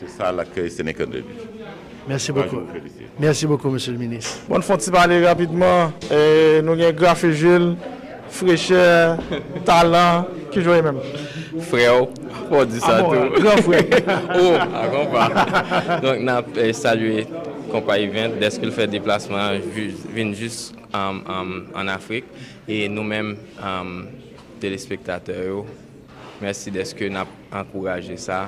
Se sa lakèy Seneca 2 di. Mèsi bokou. Mèsi bokou Mesye le Minis. Bon fon ti pale rapidman nou gen grafe jil frechè talan ki jwe menm. Freo fo di sa tou. Gran fre. Ou a konpa. Donk nap salye konpa event deske l fè deplasman an vin jis an afrik e nou menm telespektatè yo. Mèsi dèske n ap ankouraje sa.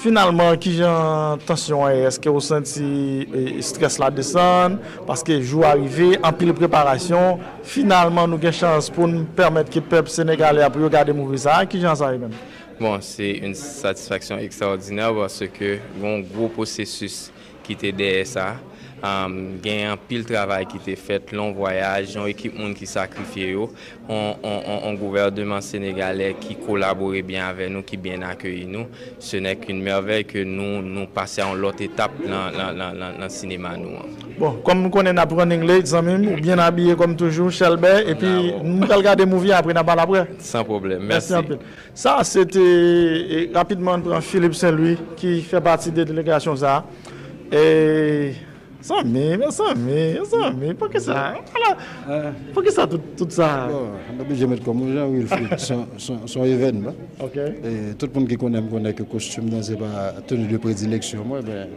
Finalman, ki jan tansyon an ye? Èske ou santi strès la desann paske jou a rive, anpil preparasyon, finalman nou gen chans pou n pèmèt ke pèp senegalè a pou yo gade Movie sa a? Ki jan sa ye menm? Bon, se yon satisfaksyon ekstraòdinè paske gen yon gwo pwosesis kite dèyè sa gen anpil travay kite fèt long vwayaj yon ekip moun ki sakrifye yo yon gouvèneman senegalè ki kolabore byen avè nou ki byen akeyi nou se nè k yn mèvèy ke nou nou pase a yon lòt etap nan sinema nou an. Bon kòm m konnen nap running late zanmi m ou byen abiye kòm toujou chèlbè epi nou pral gade movie a apre nap pale aprè. San pwoblèm mèsi anpil. Sa a se te rapidman n pran Philippe Saint Louis ki fè pati de delegasyon sa a. Mezanmi, mezanmi, mezanmi, poukisa, ala, poukisa tout sa a? Bon, m oblije met kò m wi jan Wilfrid, s on evènman. Ok. Tout moun ki konnen m konnen ke kostim nan se pa teni de predileksyon mwen men.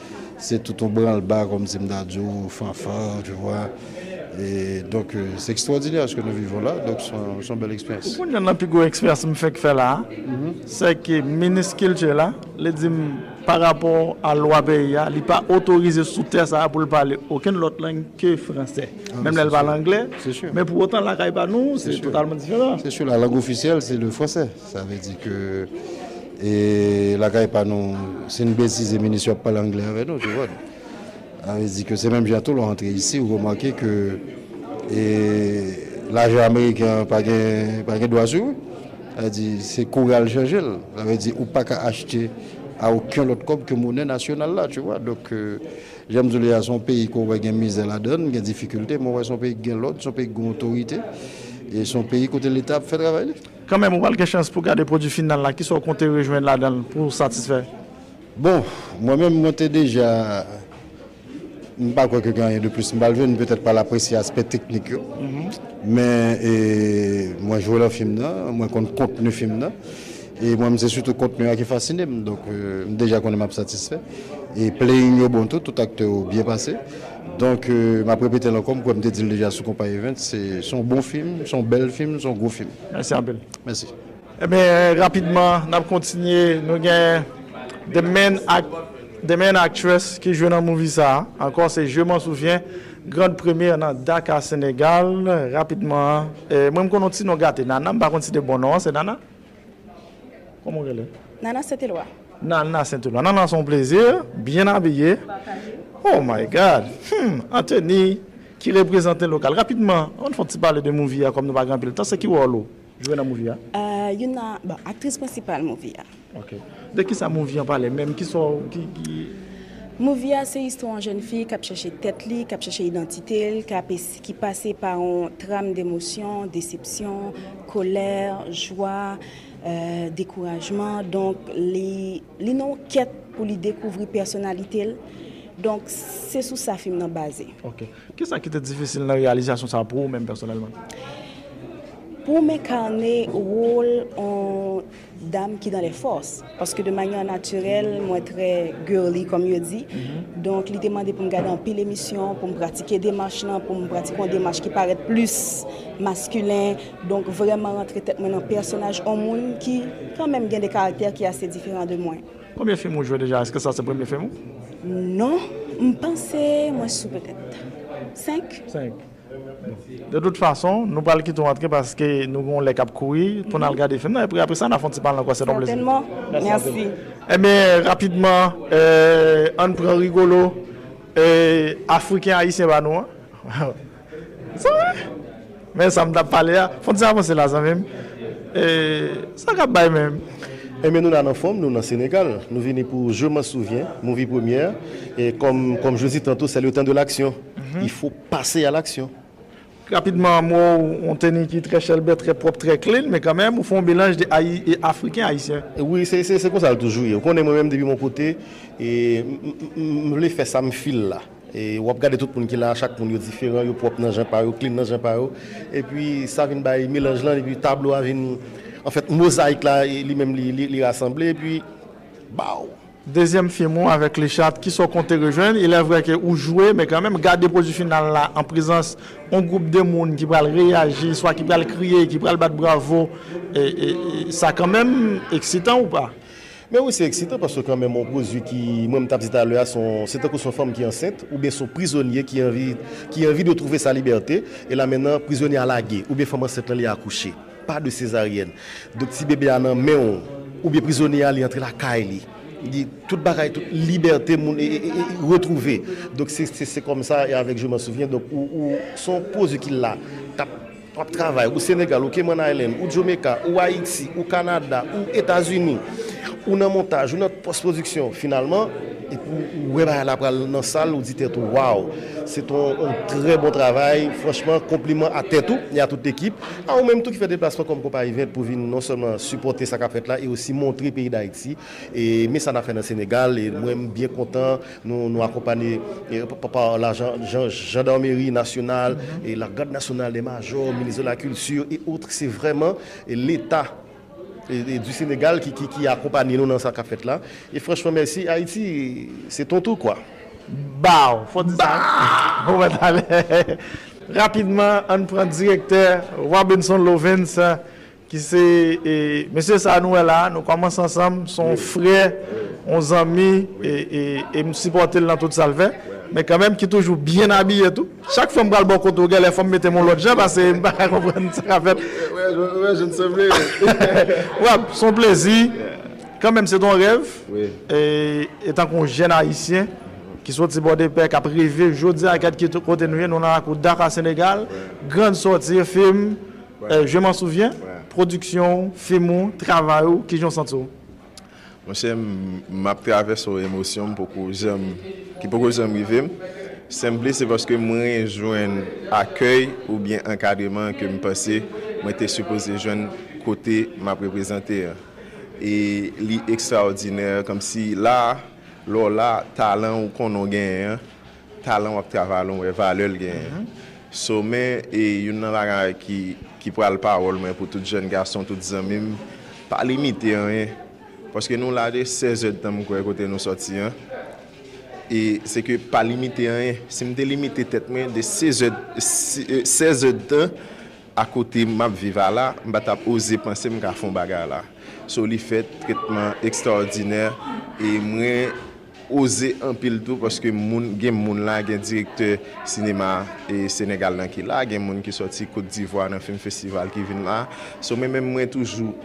Se tout yon branle ba kom si m ta di w fanfan tu vwa e donk se ekstwòdinè ske nou viv la donk son bèl eksperyans. Ou konn yonn nan pi gwo eksperyans m fenk fè la a se ke minis kilti la li di m pa rapò a lwa peyi a li pa otorize sou tè sa a pou l pale okenn lòt lang ke fransè menm lè l pale anglè men pou otan lakay pa nou se totalman diferan. Se sè la lang ofisyèl se le fransè. Sa vle di ke e lakay pa nou si n betize minis yo ap pale angle avè nou tu vòd. A vle di ke se menm jan tou lè w antre isi ou remake ke e lajan ameriken an pa gen pa gen dwa sou ou. Sa vle di se kouri al chanje l. Sa vle di ou pa ka achte a oken lòt kòb ke monè nasyonal la tu vwa. Donk jan m di w li a se yon peyi ke w wè gen mizè ladan l, gen difikilte men w wè se yon peyi ki gen lòd, se yon peyi ki gen otorite e se yon peyi kote leta ap fè travay li. Kanmenm, ou pral gen chans pou w gade pwodui final la, kisa w konte rejwenn ladan l pou w satisfè? Bon, mwen menm mwen te deja, m pa kwè ke gen anyen de plis m pral jwenn, m petèt pral apresye aspè teknik yo, men mwen jwe lan fim nan, mwen konn kontni fim nan, e mwen menm se sitou kontni a ki fasine m, donk m deja konnen m ap satisfè, e playing yo bon tou, tout aktè yo byen pase. Donk m ap repete l ankò, m kwè m te di l deja sou Konpa Events, se s on bon fim, s on bèl fim, s on gwo fim. Mèsi anpil. Mèsi. Ebyen rapidman n ap kontinye, nou gen the main act, the main actress ki jwe nan movie sa a ankò se Je m'en souviens, grande première nan Dakar Senegal. Rapidman, mwen m konn on ti non gate, Nana, m pa konn si de bon non an se Nana? Kòman ou rele? Nana Sentelwa. Nana Sentelwa. Nana se yon plezi, byen abiye. Oh my God! Hum! An teni ki reprezante lokal. Rapidman, ann fè yon ti pale de movie a kòm nou pa gen anpil tan. Se ki wòl ou jwe nan movie a? Youn nan, bon, aktris prensipal movie a. Ok. De ki sa movie an pale menm? Ki sa w, ki, ki. Movie a se istwa yon jèn fi k ap chèche tèt li, k ap chèche idantite l, k ap ese. ki pase pa yon tram d'emosyon, desepsyon, kolè, jwa, dekourajman, donk li li nan yon kèt pou li dekouvri pèsonalite l, donk se sou sa fim nan baze. Ok. Kisa ki te difisil nan reyalizasyon sa pou ou menm pèsonèlman? Pou m enkane wol yon. dam ki dan lè fòs paske de manyè natirèl mwen trè girly kòm yo di donk li te mande pou m gade anpil emisyon pou m pratike demach lan pou m pratike yon demach ki parèt plis maskilen donk vrèman rantre tèt mwen nan pèsonaj yon moun ki kanmèm gen de karaktè ki ase diferan de mwen. Konbyen fim ou jwe deja? Eske sa se premye fim ou? Non, m panse mwen sou petèt 5. 5. De tout fason, nou pral kite w antre paske nou gen yon lè k ap kouri pou n al gade fim nan epi apre sa n a fè yon ti pale nan kwen se t yon plezi. Sètènman. Mèsi anpil. Ebyen, rapidman, ann pran Rigolo, Afriken Ayisyen pa nou an. Sa vre! Men sa m t ap pale a. Fon ti avanse la zanmi m. Sa k ap bay menm? Ebyen nou la nan fòm, nou nan Senegal. Nou vini pou Je m'en souviens, Movie Première. Kòm je dis tantôt, c'est le temps de l'action. Il faut. Pase a laksyon. Rapidman, m wè w yon teni ki trè chèlbè, trè pwòp, trè clean, men kanmenm ou fè yon melanj de Ayi e Afriken, Ayisyen. Wi, se konsa l toujou ye. Ou konnen mwen menm depi m yon kote, m vle fè sa m fil la. W ap gade tout moun ki la a, chak moun yo diferan, yo pwòp nan jan pa yo, clean nan jan pa yo. Epi sa vin bay melanj lan, epi tablo a vin, anfèt mozayik la li menm li rasanble, epi baw! Dezyèm film ou avèk Lichat, kisa w konte rejwenn? Ilè vrè ke ou jwe, men kanmenm, gade pwodui final la an prezans yon gwoup de moun ki pral reyaji, swa ki pral kriye, ki pral bat bravo, sa kanmenm eksitan ou pa? Men wi, se eksitan, paske kanmenm yon pwodui ki, mwen menm t ap di talè a, se tankou se yon fanm ki ansent, oubyen se yon prizonye ki anvi, ki anvi de twouve sa libète, e la mennan prizonye a lage, oubyen fanm ansent lan li akouche. Pas de césarienne. Donk ti bebe a nan menw oubyen prizonye a li antre lakay li. Li tout bagay tout libète moun retrouve. Donk se se kòm sa e avèk je m'en souviens donk ou ou son pwodwi ki la kap wap travay ou Senegal ou Cayman Island ou Jamaica ou Ayiti ou Canada ou Etazini ou nan montaj ou nan pòs pwodiksyon finalman epi ou wè bagay la pral nan sal ou di tèt ou waw se ton trè bon travay franchman konpliman a tèt ou e a tout ekip A ou menm tou ki fè deplasman kòm konpayi vèt pou vin non sèlman sipòte sa k ap fèt la e osi montre peyi Dayiti e men sa n ap fè nan Senegal e mwen m byen kontan nou nou akonpanye pa la Jandarmeri Nasyonal e la Gad Nasyonal de Majò, Minis de la Kilti e otr se vrèman Leta. du Sénégal ki akonpanye nou nan sa kap fèt la e franchman mèsi Ayiti se ton tou kwa. Baww fò di sa wi wè talè rapidman ann pran direktè Robinson Lovens ki se mesye sa nou wè la nou kòmanse ansanm son frè on zanmi e m sipòte l nan tout sal fè men kanmenm ki toujou byen abiye tou. Chak fwa m pral bò kote w genlè fò m mete m yon lòt jan pase m paka konprann sa k ap fèt. Wè jan n sanble. Wap, s on plezi. Kanmenm se t on rèv. Etan k on jèn ayisyen ki soti Pòdepè k ap reve jodi a kèlke kote nou ye nou nan lakou Dakar Senegal. Grand Sortir film Je m'en souviens, pwodiksyon w, fim ou, travay ou, kijan w santi w? Monchè map travèse yon emosyon m poko janm ki poko janm rive m, sanble se paske mwen rejwenn akèy oubyen ankadreman ke m panse mwen te sipoze jwenn kote map reprezante an. E li ekstraòdinè, kòmsi la, lè w la, talan ou konnen w genyen an, Talan wap travay lan w wè valè l genyen so men e youn nan bagay ki ki pral pawòl mwen pou tout jèn gason tout zanmi m pa limite anyen paske nou la de 16 zè dtan m kwè kote nou sòti an e se ke pa limite anyen si m te limite tèt mwen de 16 zè 16 zè dtan a kote map viv a la m pa tap oze panse m ka fon bagay la so li fèt tretman ekstraòdinè e mwen. Oze anpil tou paske moun gen moun la gen direktè sinema e senegal nan ki la gen moun ki sòti kot divwa nan film festival ki vin la so men menm mwen toujou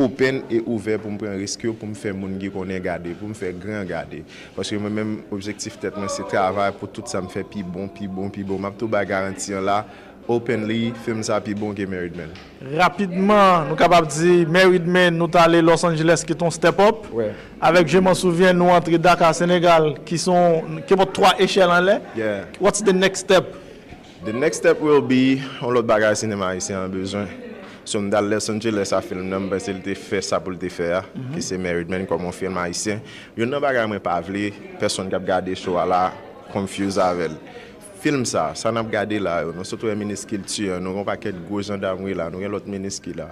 open e ouvè poum pran risk yo poum fè moun ki konnen gade poum fè gran gade paske mwen menm objektif tèt mwen se travay pou tout sam fè pi bon pi bon pi bon map tou bay garanti an la Openly, film sa pi bon ke Married Men. Rapidman nou kapab di Married Men nou t ale Los Angeles ki t on step up. Avèk Je m'en souviens nou antre Dakar Senegal ki s on kepòt 3 echèl anlè. What's the next step? The next step will be on lòt bagay sinema ayisyen an bezwen. So m t al Los Angeles a film nan m panse l te fè sa pou l te fè a ki se Married Men kòm on film ayisyen. Youn nan bagay mwen pa vle pèsonn k ap gade show a la confuse avè l. Film sa, sa nap gade la yo, nou sot wè minis kilti an, nou gen yon pakèt gwo jandam ki la, nou gen lòt minis ki la,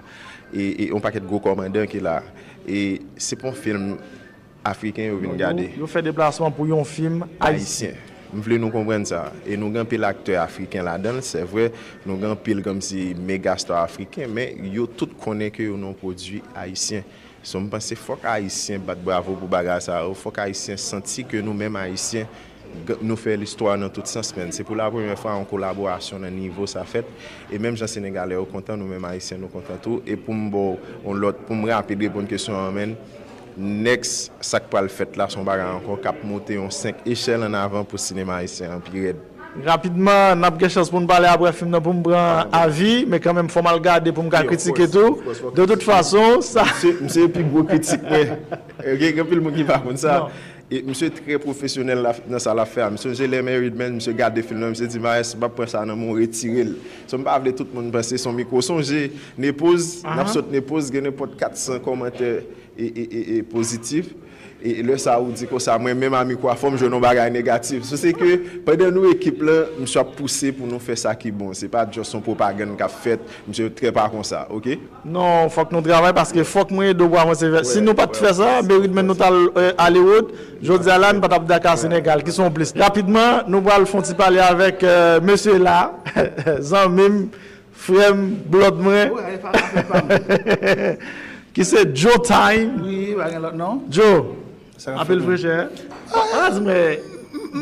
e yon pakèt gwo kòmandan ki la, e se pa yon film afriken yo vin gade. Yo fè deplasman pou yon film ayisyen. M vle nou konprann sa, e nou gen anpil aktè afriken ladan l, sè vre nou gen anpil komsi mega star afriken, men yo tout konnen ke yo nan yon pwodui ayisyen. So m panse fòk ayisyen bat bravo pou bagay sa yo, fòk ayisyen santi ke nou menm ayisyen Nou fè listwa nan tout sans menn. Se pou la premyè fwa yon kolaborasyon nan nivo sa fèt. E menm jan Senegalè yo kontan, nou menm Ayisyen nou kontan tou. E pou m ba w yon lòt, pou m rapid reponn kesyon an menn, next sa k pral fèt la se yon bagay ankò k ap moute yon 5 echèl an avan pou sinema ayisyen an pi rèd. Rapidman, n ap gen chans pou n pale aprè fim nan pou m pran avi. Men kanmenm fò m al gade pou m ka kritike tou. De tout fason, sa. M se pi gwo kritik mwen. Gen anpil moun ki pa konn sa. E misye trè profesyonèl nan sa lap fè a. M sonje lè Married Man misye gade film nan misye di Maes m pap pran sa nan men w retire l. So m pa vle tout moun panse son mikro. Sonje Nepoz nap sot Nepoz gen nenpòt 400 kòmantè pozitif e lè sa ou di konsa mwen menm a mikro a fò m jwenn yon bagay negatif. So se ke pandan nou ekip lan misye ap pouse pou nou fè sa ki bon. Se pa just yon pwopagann kap fèt. Misye trè pa konsa ok. Non fòk nou travay paske fòk mwen ede w pou avanse vè si nou pat fè sa meri dmen nou tal alewòd jodi a la nou patap daka senegal ki son plis rapidman nou pral fon ti pale avèk mesye la zanmi m frè m blòd mwen ki se djo time djo. Anpil frechè. Pa di mwen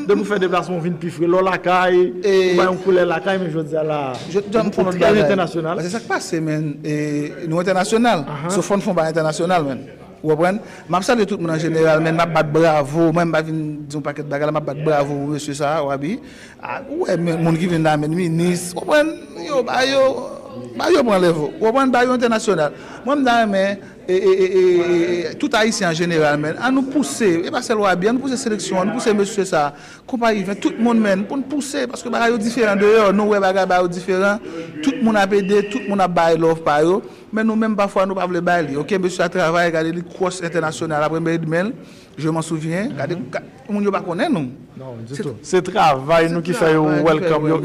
depi ou fè deplasman ou vin pi fre. Lè w lakay, ou bay yon koulè lakay men jodi a la, ou trè entènasyonal. Se sa k pase men. Nou entènasyonal. So fò n fè yon bagay entènasyonal men. Ou konprann? M ap salye tout moun an jeneral men m ap bat bravo. Mwen m pa vin di yon pakèt bagay la. M ap bat bravo pou mesye sa a, Wabi. Ou wè moun ki vin la men, minis, ou konprann, yo ba yo, ba yo pran lève. Ou konprann? Ba yo entènasyonal. Mwen m ta renmen. e tout ayisyen an jeneral menn an nou pouse e pa sèl wabi an nou pouse seleksyon an nou pouse mesye sa konpayi vin tout moun menn pou nou pouse paske bagay yo diferan deyò nou wè bagay ba yo diferan tout moun ap ede tout moun ap bay love pa yo men nou menm pafwa nou pa vle bay li ok mesye a travay gade li kros entènasyonal apre mèd menl je m'en souviens gade moun yo pa konnen nou se travay nou ki fè yo welcome yo.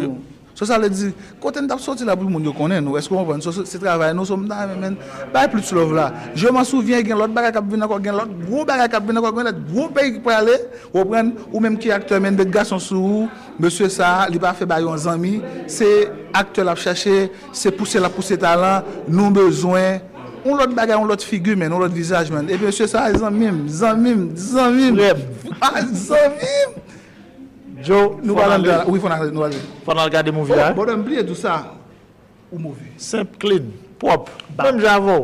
So sa vle di kote nou tap soti la pou moun yo konnen nou eske ou konprann so se travay nou so m ta renmen menn bay plus love la je m'en souviens gen lòt bagay kap vin ankò gen lòt gwo bagay kap vin ankò gen lòt gwo peyi ki prale ou konprann ou menm ki aktè menn de gason sou ou mesye sa li pa fè bay yon zanmi se aktè lap chache se pouse lap pouse talan nou bezwen yon lòt bagay yon lòt figi menn yon lòt vizaj menn epi mesye sa zanmim zanmim zanmim frèm ah zanmim. Joe nou pral andan la wi fon ale nou ale. Fon al gade movie la. Oh bòdòy m bliye diw sa ou move. Senp clean pwòp menm jan avèw.